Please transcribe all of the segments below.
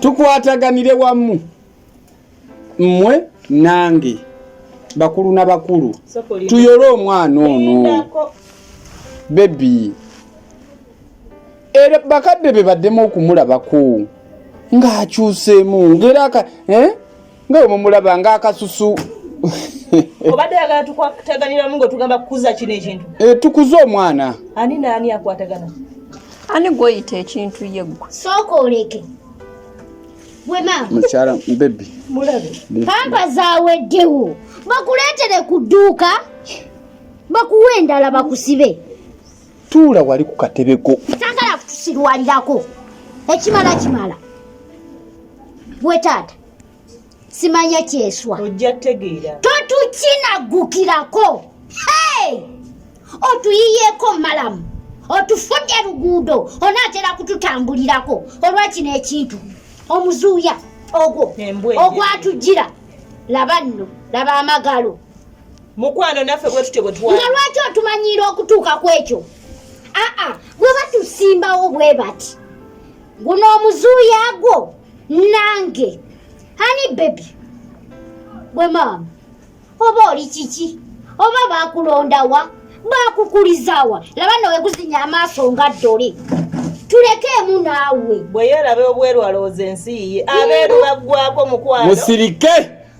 tukwataganire wamu mmwe nange bakulu na bakulu tuyole omwana ono bebi era bakadde be baddemu okumulabako ng'akyuseemu ngeraaka eh? nga bwe mumulaba nga akasusu obadde yagala tukwataganiramu nga otugamba kukuza kino ekintu eh, tukuze omwana ani naani akwatagana ani gwoyita ekintu ye gwe sooka oleke mukyala bebi pampa zaweddewo bakuleetere ku dduuka bakuwa endala bakusibe tuula wali ku katebe ko sagala kutusirwalirako ekimala kimala gwe taata simanya kyeswa ojja tegeera totukinagukirako hey! otuyiyeeko malamu otufudde luguudo onaatera kututambulirako olwakino ekintu omuzuuya ogwo ogwatujjira laba nno laba amagalo mukwano naffe bwetutyo bwetwa nga lwaki otumanyiira okutuuka ku ekyo aa bwe batusimbawo bwe bati guno omuzuuya gwo nange ani bebi bwe maama oba oli kiki oba bakulondawa bakukulizawa laba nawe guzinya amaaso nga ddole tulekeemu naawe bwe yeerabe obweru alowooza ensi ye abeeru baggwako mukwano musirike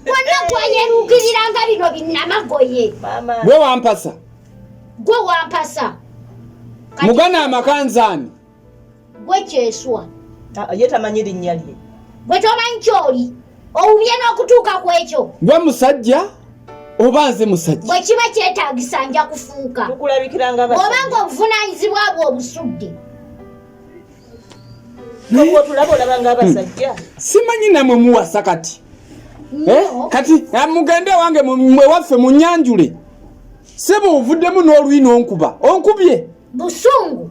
wonna gwayeruukirira nga bino binnamagoye gwe wampasa gwe wampasa mugana amakanzaani gwe kyeswa ah, ye tamanyi linnya lye gwe tomanyi kyoli owubye n'okutuuka ku ekyo gwe musajja oba nze musajja bwe kiba kyetagisa nja kufuuka oba nga obuvunanyizibwa bwe obusudde hmm. simanyi namwe muwasa kati eh, kati eh, mugende wange mwewaffe munyanjule sebo ovuddemu n'oluyi n'onkuba onkubye busungu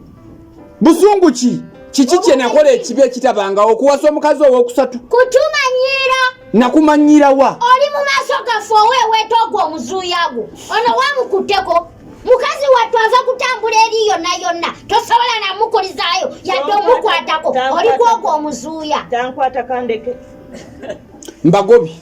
busungu ki kiki kye nakola ekibi ekitabangawo okuwasa omukazi ow'okusatu kutumanyiira nakumanyiira wa oli mu maaso gaffe oweeweeta ogwo omuzuuya gwo ono wamukutteko mukazi wattu ava kutambula eri yonna yonna tosobola namukulizaayo yadde omukwatako oli kwogwo omuzuuya tankwata kandeke mbagobi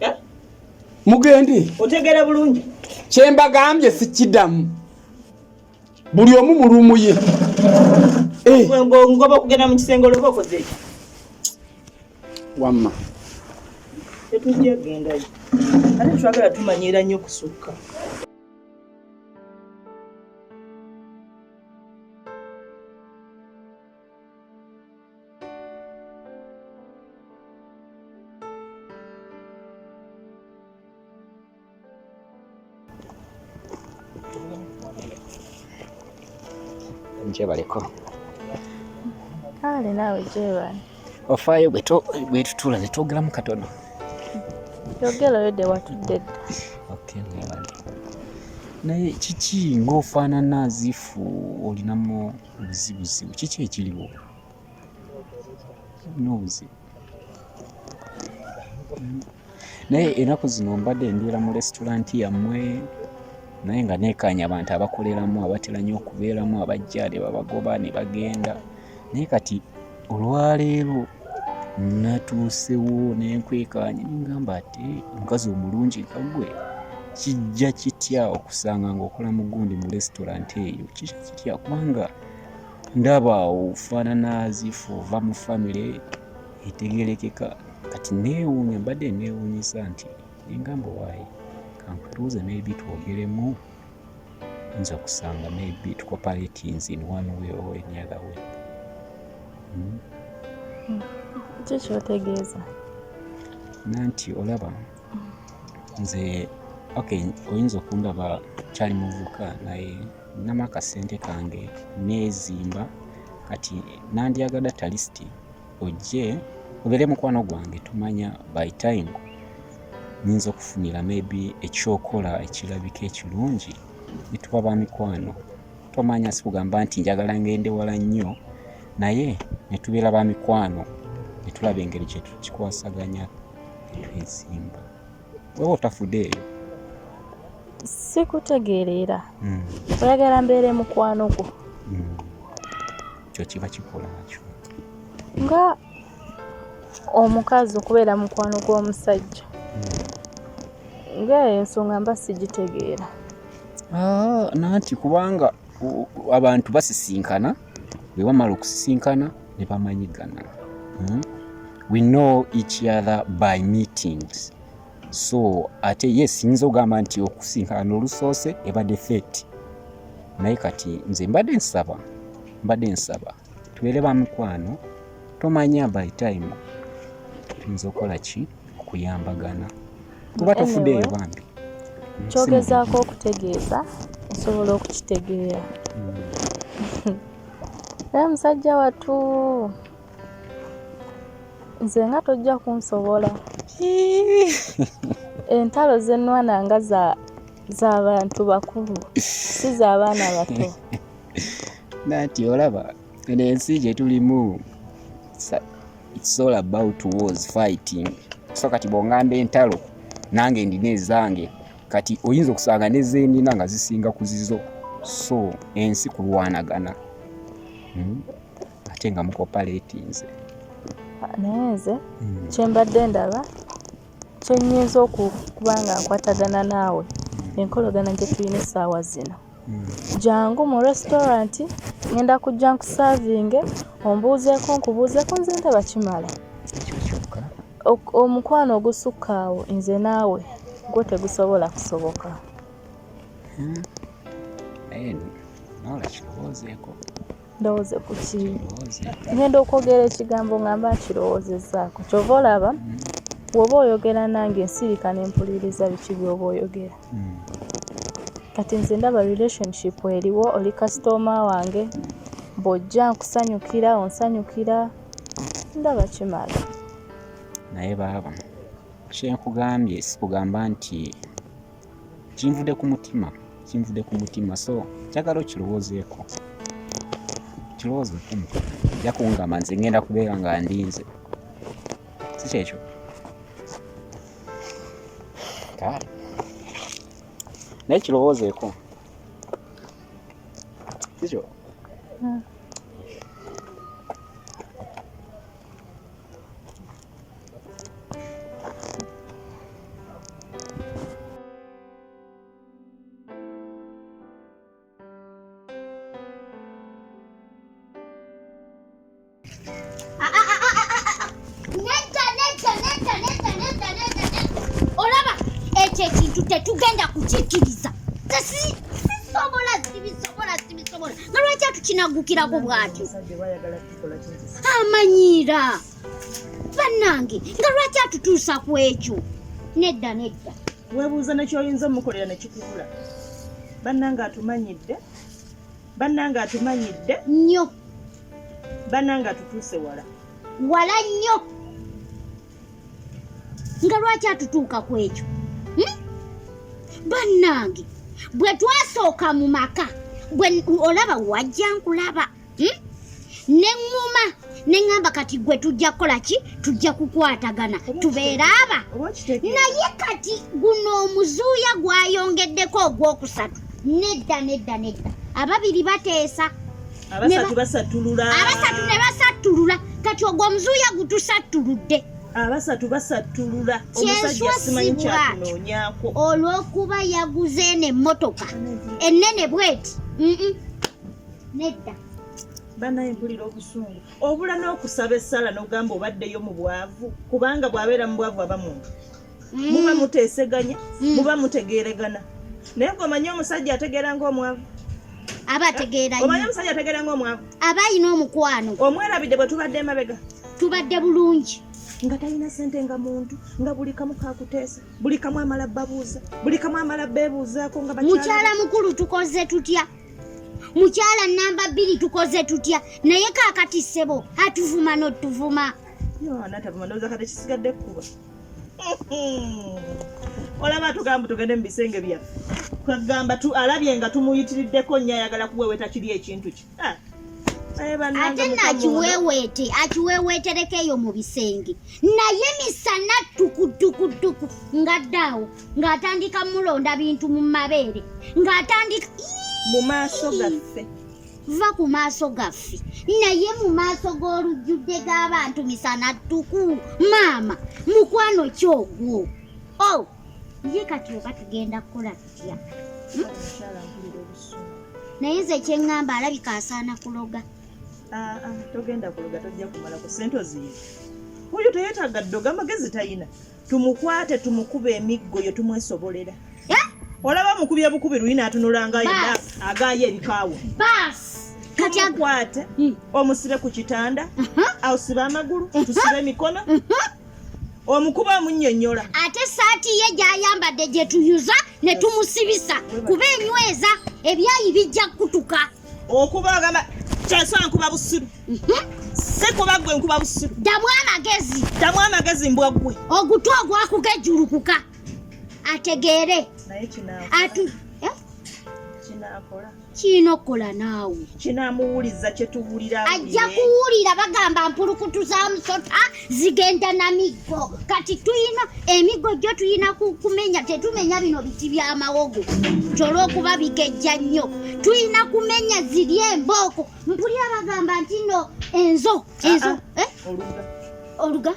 eh? mugende otegera bulungi kyembagambye sikidamu buli omu mulumu ye eh. ngoba okugenda mukisenge oloba okoze wamma tetujja gendayo ate twagala tumanyiira nnyo kusukka gyebaleko kale naawe gyebali ofaayo bwetutula netwogeramu katono yogera oyo de watudde dda naye kiki ngaofaanana zifu olinamu obuzibu zibu kiki ekiriwo nobuzibu naye enaku zino mbadde mbeera mu restauranti yammwe naye nga nekaanya abantu abakoleramu abatera nyo okubeeramu abajja nebabagoba nebagenda naye kati olwaleero natuusewo nenkwekaanya nengamba ate omukazi omulungi nga gwe kijja kitya okusanga ngaokola mugundi mu restaurant eyo kijja kitya kubanga ndaba ofaanana zifu ova mu famire etegerekeka kati neewuunya mbadde neewuunyisa nti nengamba waayi kankutuuze maybe twogeremu nza kusanga maybe it cooperates in one way or any other way hmm? Hmm. kikyotegeeza nanti olaba nze ok oyinza okundaba kyali muvuka naye nama akasente kange nezimba kati nandyagada talisiti ojje obeere mukwano gwange tumanya by time nyinza okufunira maybe ekyokola ekirabika ekirungi netuba ba mikwano tomanya sikugamba nti njagala ngende wala nnyo naye netubeera ba mikwano netulaba engeri kyetukikwasaganya netwezimba wewe otafude eyo sikutegeerera hmm. oyagala mbeere mukwano gwo hmm. kyo kiba kikola nakyo nga omukazi okubeera mukwano gw'omusajja hmm. nga eyo ensonga mba sigitegeera ah, nanti kubanga abantu basisinkana bwe bamala okusisinkana ne bamanyigana hmm? we know each other by meetings so ate ye siyinza ogamba nti okusinkana olusoose ebadde feti naye kati nze mbadde nsaba mbadde nsaba tubeere ba mikwano tomanya by time tuyinza okukola ki okuyambagana kuba tofudeeyo bambi kyogezaako okutegeeza osobola okukitegeera hmm. naye musajja watu nze nga tojja kunsobola entalo zenwana nga za bantu bakulu si za baana bato nati olaba eno ensi gye tulimu it's all about wars fighting so kati bwongamba entalo nange ndina ezange kati oyinza okusanga nezenina nga zisinga ku zizo so ensi kulwanagana hmm? ate nga mukopaletinze naye nze hmm. kyembadde ndaba kyenyinza okuba nga nkwatagana naawe hmm. enkolagana gyetulina essaawa zino Jangu mu restaurant ngenda kujja nkusavinge ombuuzeeko nkubuuzeeko nze ndaba kimala omukwano ogusukka awo nze naawe gwo tegusobola kusoboka hmm. ndowooze ku ki ngenda okwogera ekigambo nga mba nkirowoozezzaako kyova olaba woba oyogera nange ensirika nempuliriza biki byoba oyogera hmm. kati nze ndaba relationship eriwo oli kasitooma wange bwojja nkusanyukira onsanyukira ndaba kimala naye baaba kyenkugambye sikugamba nti kinvude ku mutima kinvude ku mutima so njagala okirowoozeeko okirowoozeeko ojja kungamba nze ngenda kubeera nga ndinze si kyekyo kale naye kirowoozeeko sikyo hmm. tetugenda kukikiriza sisobola sibisobola sibisobola nalwaki atukinagukirako bwatyo amanyiira bannange nga lwaki atutuusa ku ekyo nedda nedda weebuuza nekyoyinza omukolera nekikubula bannange atumanyidde bannange atumanyidde nnyo bannange atutuuse wala wala nnyo nga lwaki atutuuka ku ekyo hmm? bannange bwe twasooka mu maka olaba wajja nkulaba hmm? ne ŋŋuma ne ŋŋamba kati gwe tujja kukola ki tujja kukwatagana tubeere aba naye kati guno omuzuuya gwayongeddeko ogwokusatu nedda nedda nedda ababiri bateesa abasatu basattulula abasatu ne basattulula kati ogwo omuzuuya gutusattuludde abasatu basattulula omusajja simanyi kyakunoonyako olw'okuba yaguze eno emmotoka ennene bweti Nedda. banaye mpulira obusungu obula n'okusaba essala n'ogamba obaddeyo mu bwavu kubanga bw'abeera mu bwavu aba muntu mm. muba muteeseganya mm. muba mutegeeregana naye gwe omanyi omusajja ategeera ng'omwavu aba ategeera omanyi omusajja ategeera ng'omwavu aba alina omukwano omwerabidde bwe tubadde emabega tubadde bulungi nga talina sente nga muntu nga buli kamu kakuteesa buli kamu amala babuuza buli kamu amala beebuuzaako nga mukyala mukulu tukoze tutya mukyala namba bbiri tukoze tutya naye kakati ssebo atuvuma notuvuma olaba tugamba tugende mu bisenge byaffe kagamba alabye nga tumuyitiriddeko nnyo ayagala kuweweta kiri ekintu ki ah. ate nakiweweete akiweweetereko eyo mu bisenge naye misana tukutukutuku ngaddaawo ng'atandika mulonda bintu mu mabeere ng'atandika mu maaso gaffe va ku maaso gaffe naye mu maaso g'olujjudde g'abantu misana ttuku maama mukwano kyogwo o oh, ye kati oba tugenda kukola tutya hmm? naye nze kyeŋŋamba alabika asaana kuloga ah, ah, togenda kuloga tojja kumalako sente oziyiza oyo teyetaaga ddoga amagezi tayina tumukwate tumukuba emiggo yo tumwesobolera eh? olaba mukubye bukubi luli natunulanga yena agaayo ebikaawo tumukwate hmm. omusibe ku kitanda ausibe uh-huh. amagulu uh-huh. tusibe emikono uh-huh. omukuba omunyonyola ate saati ye gyayambadde gyetuyuza ne tumusibisa kuba enyweza ebyayi bijja kukutuka okuba ogamba kyansi ankuba busiru si kuba gwe nkuba busiru ddamu amagezi ddamu amagezi mbwa gwe ogutu ogwakugejulukuka ategeere atu kirina okukola naawe kinamuwuliza kyetuwulira ajja kuwulira bagamba mpulukutu za musota zigenda na miggo kati tuyina emiggo gyo tuyina kumenya tetumenya bino biti byamawogo kyolwokuba bigejja nnyo tuyina kumenya ziri embooko mpulira bagamba nti no enzo enzo ah, ah. eh? oluga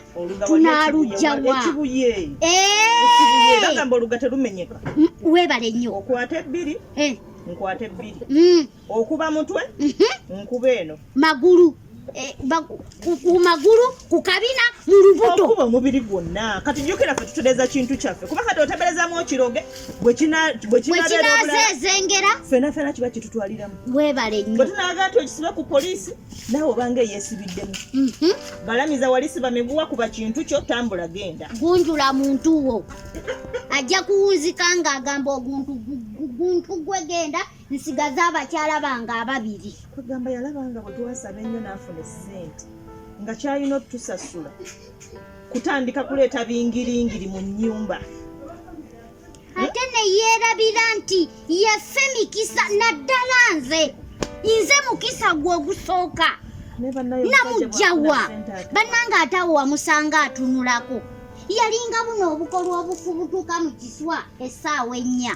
tunalujja wa eh! webale nnyo okwata ebbiri eh. nkwata ebbiri mm. okuba mutwe mhm. nkuba eno magulu eh, ku magulu ku kabina mu lubuto okuba omubiri gwonna kati jjukira fe tutereza kintu kyaffe kuba kati oteberezamu okiroge bwekinazezengera fena fena kiba kitutwaliramu webale nyo bwe tunaga nti okisibe ku poliisi nawe obanga eyesibiddemu mhm. balamiza wali siba miguwa kuba kintu kyo tambula genda gunjula muntu wo ajja kuwunzika ng'agamba oguntu gwegenda nsigaza abakyala bange ababiri kwegamba yalaba nga bwe twasaba ennyo n'afuna essente nga kyalina otusasula kutandika kuleeta bingiringiri mu nnyumba ate neyeerabira nti yeffe mikisa naddala nze nze mukisa gwe ogusooka namugjawa bannanga ate awo wamusanga atunulako yalinga buno obukolwa obufubutuka mu kiswa essaawa ennya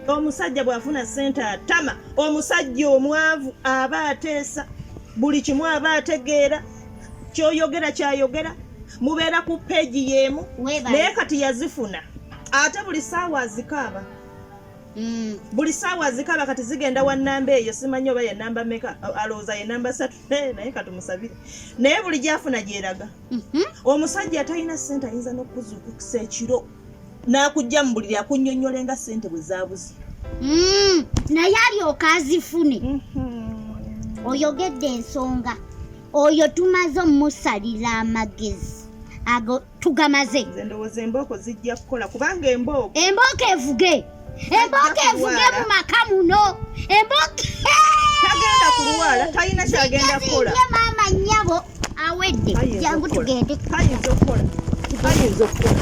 omusajja bw'afuna ssente atama omusajja omwavu aba ateesa buli kimu aba ategeera kyoyogera kyayogera mubeera ku peegi y'emu naye kati yazifuna ate buli saawa azikaaba mm. buli saawa azikaaba kati zigenda wa namba eyo simanyi oba yenamba meka alowooza yenamba satu naye katumusabire naye buli gyafuna gyeraga mhm. omusajja atalina ssente ayinza n'okuzukusa ekiro n'akujja mu buliri akunnyonnyole nga ssente bwe zaabuze mm, naye alyoka azifune mm-hmm. oyogedde ensonga oyo tumaze omusalira amagezi ago tugamaze nze ndowooza embooko zijja kukola kubanga embooko embooko evuge embooko evuge mu maka muno embooko tagenda kulwala talina kyagenda kukola maama nnyabo awedde jangu tugende tayinza okukola tayinza okukola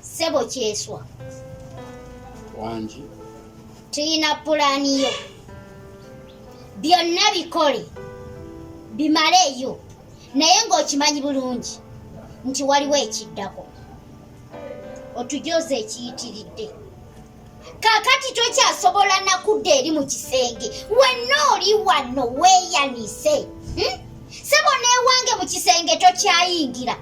Sebo kyeswa. Wangi. Tuyina pulani yo. Byonna bikole. Bimaleyo. Naye ng'okimanyi bulungi nti waliwo ekiddako. Otujoze ekiyitiridde. kakati tokyasobola nakudda eri mu kisenge wenna oli wano weeyanise hmm? sebo newange mu kisenge tokyayingira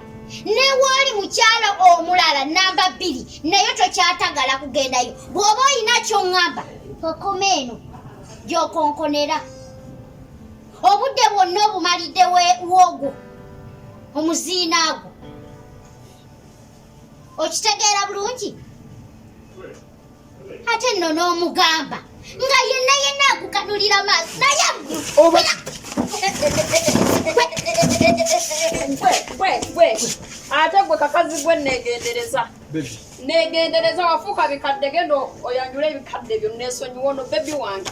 newaali mukyalo omulala namba bbiri naye tokyatagala kugendayo bw'oba olina kyoŋŋamba okoma eno gyokonkonera obudde bwonna obumalidde wogwo omuziina gwo okitegeera bulungi ate nno n'omugamba nga yenna yenna akukanulira maaso naye ate gwe kakazi gwe negendereza negendereza wafuuka bikadde genda oyanjula ebikadde byo nesonyiwa ono bebi wange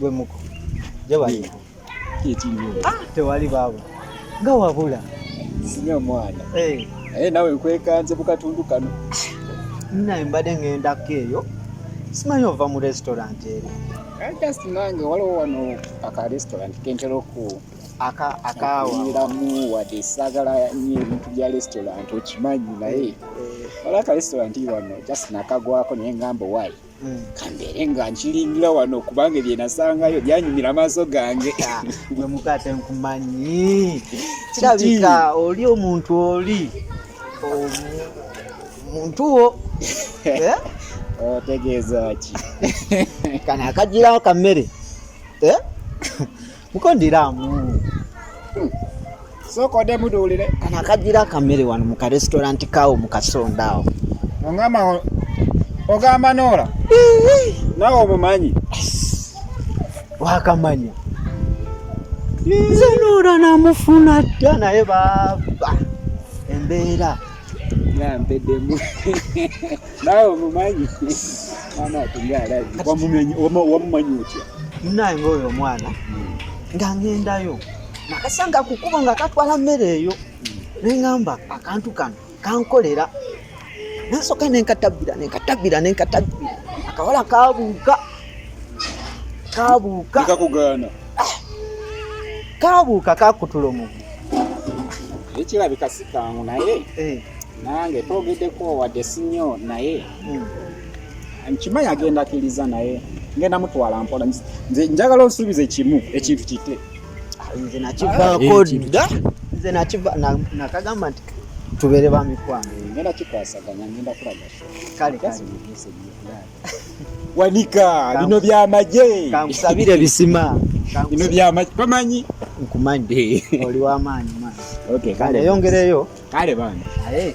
gwe muko jabali ah, tewali baabo nga wabula sinya omwana eh. naye nawe nkwekanze ku katundu kano naye mbadde ng'endako eyo simanyi ova mu restaurant eri eh, just nange waliwo wano aka restaurant kentera oku akaawiramu wadde saagala nyo ebintu bya restaurant okimanyi naye eh, eh. wala ka restaurant wano just nakagwako naye ngamba owaayi hmm. kambeere nga nkiringira wano kubanga ebyenasangayo byanyumira amaaso gange ah, gwe mukate nkumanyi kirabika oli omuntu oli omuntu wo eh? otegeeza ki kana akagirawo kammere mukondiramu hmm. sooka ode muduulire kano akagira akamere wano mu karesitoranti kawo mu kasonda awo ongamba ogamba noola nawe omumanyi wakamanya nze noola namufuna dda naye baaba embeera mpedemu nawe omumanyi mwana atunga alabi wamumanyi otya naye ngaoyo omwana nga ngendayo nakasanga kukubo nga katwala mmere eyo nengamba akantu kano kankolera nasoka nenkatabbira nenkatabbira nenkatabbira akawala kabuuka kabuuka kabuuka kakutula omugu ekirabika sikangu naye eh. nange twogedeko wadde sinyo naye hmm. nkimanyi agenda akiriza naye ngenda mutwala mpola nze njagala onsuubize kimu ekintu kite nze nakivaako ah, dda nze nakagamba nti tubeere bamikwano ngenda kikwasaganya ngenda kulaga kale kale wanika bino byamaje kankusabire bisima bino byamaje tomanyi nkumanyi oli wamaanyi maanyi okay, kale yongereyo kale bana aye